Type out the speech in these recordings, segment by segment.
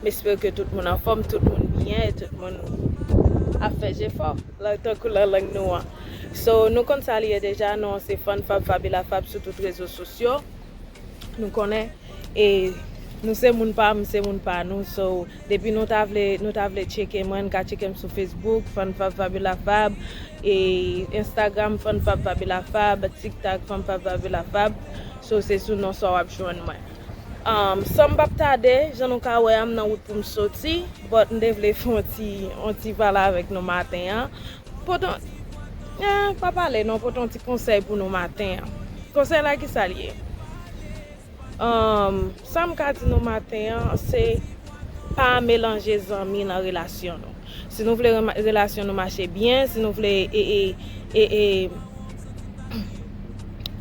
M espere ke tout moun anfòm, tout moun byen e tout moun ap fè jefò tankou lan lang nou an. So, nou konn sa li ye deja, nou se fan Fab Fabila Fab sou tout rezo sosyo. Nou konnen e nou se moun pa m, se moun pa nou. So, depi nou ta vle, nou ta vle tcheke mwen, n ka tcheke m sou Facebook, Fan Fab Fabila Fab, e Instagram Fan Fab Fabila Fab, TikTok Fan Fab Fabila Fab. So, se sou non sa w ap jwenn mwen. San m pap tade, jan nou ka wè a m nan wout pou m soti, but m te vle fè yon ti yon ti pale avèk nou maten an, pote yon pa pale non, pote yon ti konsèy pou nou maten an. Konsèy la kisa l ye? Sa m ka di nou maten an se pa melanje zanmi nan relasyon nou. Si nou vle relasyon nou mache byen, si nou vle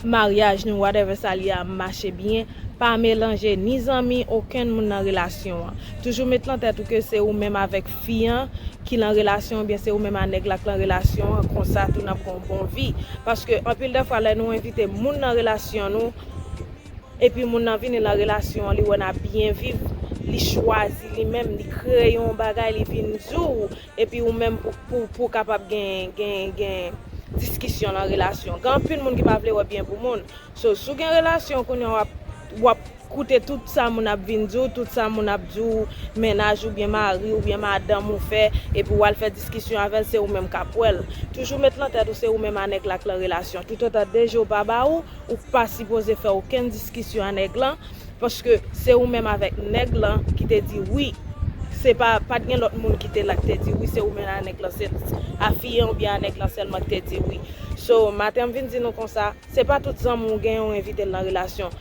maryaj nou whatever sa li a mache byen, pa melanje ni zanmi okenn moun nan relasyon an. Toujou met nan tèt ou ke se ou menm avèk fi an ki lan relasyon oubyen se ou menm a nèg la k lan relasyon an, konsa tou n ap gen yon bon vi. Paske anpil dè fwa lè nou envite moun nan relasyon nou, Epi moun nan vini lan relasyon an li wè nap byen viv li chwazi li menm li kreye yon bagay li vin di w epi ou menm pou pou kapab gen gen diskisyon lan relasyon gen anpil moun ki pa vle wè byen pou moun so si w gen relasyon kounye a wap koute tout sa moun ap vin di w tout sa moun ap di w mennaj ou byen mari ou byen madanm ou fè epi wal fè diskisyon avè l se ou menm kap wè l toujou met lan tèt ou se ou menm a nèg la k lan relasyon toutotan 2 je w pa ba ou Ou pa sipoze fè okenn diskisyon a nèg lan paske se ou menm avèk nèg lan ki te di wi se pa pat gen lòt moun ki te la ki te di wi se ou menm a nèg lan se a fi an oubyen a nèg lan sèlman ki te di wi so maten m vin di nou konsa se pa tout zanmi w genyen w envite l nan relasyon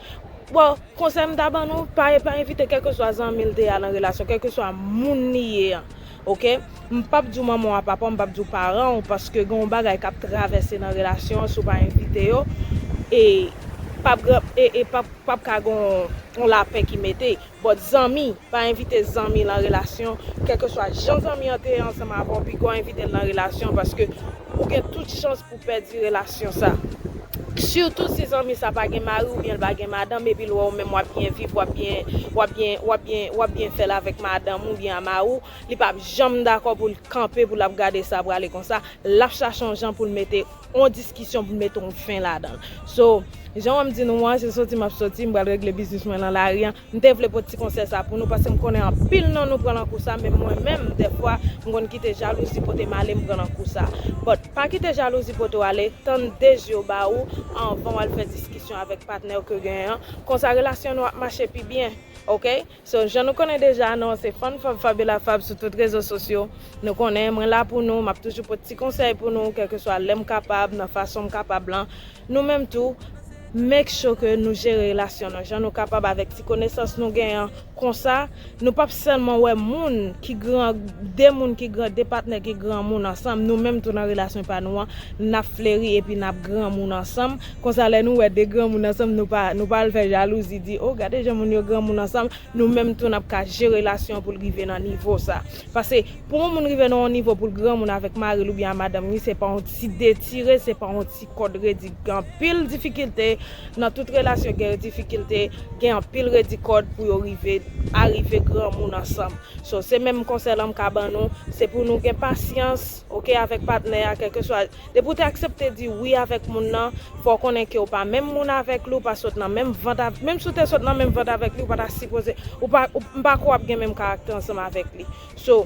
bon konsèy m ta ban nou pa pa envite kèlkeswa zanmi l te a nan relasyon kèlkeswa moun li ye an ok m pap diw manmanw a papaw m pap diw paranw paske gen yon bagay kap travèse nan relasyon an si w pa envite yo e pap gen e pap ka gen yon lapè ki mete but zanmi pa envite zanmi nan relasyon kèlkeswa jan zanmi an te ye ansanm avèw pigaw envitel nan relasyon paske ou gen tout chans pèdi relasyon sa sitou si zanmi sa pa gen mari oubyen l pa gen madanm epil wè ou menm wap byen viv wap byen wap byen wap byen wap byen fèl avèk madanm ou oubyen a mari w li pap janm dakò poul kanpe pou lap gade sa prale konsa lap chache yon jan poul mete yon diskisyon poul mete yon fen ladanl so jan wèm di nou an se soti map soti m pral regle biznis mwen lan lari an. M te vle pot ti konsèy sa pou nou paske m konnen anpil nan nou pran nan kou sa men mwen menm dèfwa m konn kite jalouzi pote m ale m pran nan kou sa but pa kite jalouzi pote w ale tann 2 zye w ba ou anvan w al fè diskisyon avèk patnè w ke w genyen an konsa relasyon nou ap mache pi byen ok so jan nou konnen deja non se Fann Fab Fabiola Fab sou tout rezo sosyo nou konnen mwen la pou nou m ap toujou pot ti konsèy pou nou kèlkeswa lè m kapab nan fason m kapab lan nou menm tou Make sure ke nou jere relasyon nou jan nou kapab avèk ti konesans nou gen an, konsa nou pap sèlman wè moun ki gran, de moun ki gran, de patnè ki granmoun ansanm, nou menm tou nan relasyon pa nou an, nap fleri epi nap granmoun ansanm, konsa lè nou wè de granmoun ansanm nou pa, nou pa al fè jalouzi di oh gade jan moun yo granmoun ansanm, nou menm tou nap ka jere relasyon an poul rive nan nivo sa. Pase Pou yon moun rive nan yon nivo pou l granmoun avèk mari l oubyen a madanm li se pa yon ti detire, se pa yon ti kòd redi. Gen anpil difikilte, nan tout relasyon gen difikilte, gen anpil redi kòd pou yo rive arive granmoun ansanm. So se menm konsèy la m ka ban nou, se pou nou gen pasyans ok avèk patnè a kèlkeswa, depi w te aksepte di wi avèk moun nan, fò w konnen ke w pa menm moun avèk li, w pa sot nan menm vant avèk li, menm si w te sot nan menm vant avèk li ou pa ta sipoze, ou pa, m pa kwè w ap gen menm karaktè ansanm avèk li. So,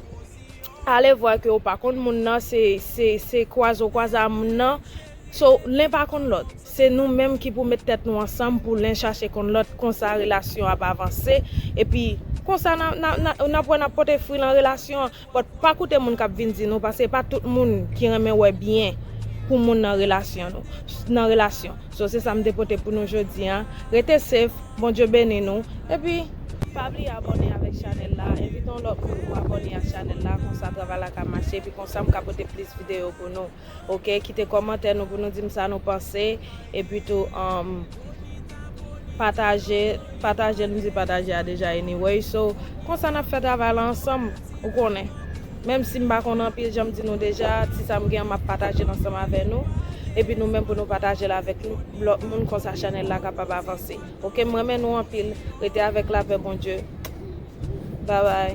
ale vwa ke ou pa konn moun nan, se, se, se kwaze ou kwaze a moun nan. So, len pa konn lòt. Se nou menm ki pou met tèt nou ansanm pou len chache konn lòt, konsa relasyon ap avanse, epi konsa na, na, na, nap wè nap pote fri lan relasyon an. But, pa koute moun kap vin di nou, paske e pa tout moun ki renmen wè byen pou moun nan relasyon nou, nan relasyon. So se sa m te pote pou nou jodi an. Rete safe, Bondye beni nou, epi pa bliye abòne avèk chanèl la, envite yon lòt moun pou abòne ak chanèl la konsa travay la ka mache epi konsa m ka pote plis videyo pou nou ok, kite kòmantè nou pou nou di m sa nou panse epi tou umm pataje, pataje l m di pataje a deja anyway so konsa n ap fè travay la ansanm. Ou konnen, menm si m pa konn anpil jan m di nou deja, ti sa m gen an m ap pataje l ansanm avè nou, epi nou menm pou nou pataje l avèk lòt moun konsa chanèl la kapab avanse ok m renmen nou anpil rete avèk lapè Bondye babayy.